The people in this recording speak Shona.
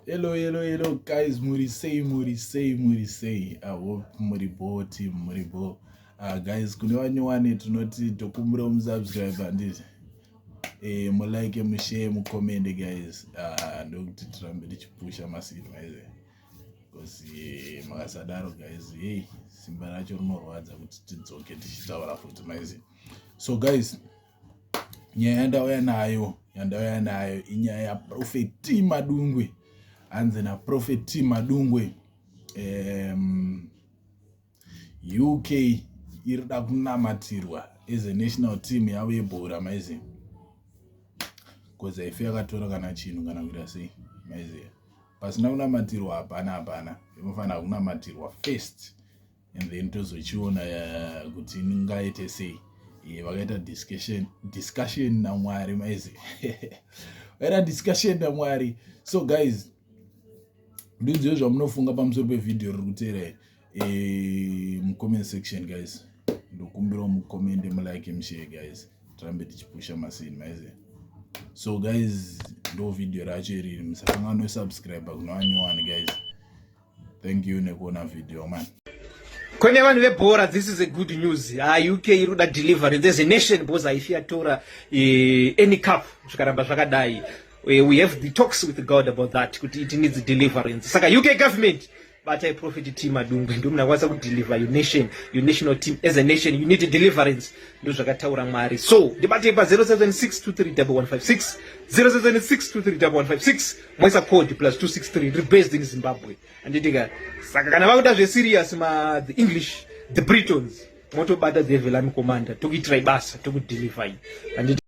hello hello hello guys muri sei muri sei muri sei i hope muri bo team muri bo uh, guys kune vanyowani tinoti tokumbira umusubscribe handiti eh, mulike mushare mucomende guys uh, ndokuti tirambe tichipusha masimba ese bcause eh, makasadaro guys hei simba racho rinorwadza kuti tidzoke tichitaura futi maizi so guys nyaya yandauya nayo yandauya nayo inyaya yaprofeti madungwe hanzi naprofeti madungwe um, uk iri da kunamatirwa as a national team yavo yebhora maiziva bcause haife yakatora kana chinhu kana kuita sei maiziva pasina kunamatirwa hapana hapana inofanira kunamatirwa first and then tozochiona eh, kuti ingaite sei eh, vakaita discussion discussion namwari maizi vakaita discussion namwari so guys ndiudziwe zvamunofunga pamusoro pevhidhiyo riri kuteera eh, mucomment section guys ndokumbirawo mucomende mulike mushare guys tirambe tichipusha masini maizi so guys ndo vhidhiyo racho iriri musakanganwe subscribe kunoanyowani guys Thank you nekuona video man. Kwenye vanhu vebhora this is a good news. Ah UK iruda delivery. There's a nation boss if you tora eh, any cup zvikaramba zvakadai. Eh, we have the talks with God about that kuti it needs deliverance. Saka UK government batai prophet team adungwe ndio mnakwanisa kudeliver your nation your national team as a nation you need a deliverance ndio zvakataura mwari so ndibatei pa 076231156076231156 Mwaisa code plus 263 ndiri based in Zimbabwe. Anditi ka saka kana vakuda zve serious ma the English the Britons motobata the Velami commander tokuitira ibasa tokudeliver. Anditi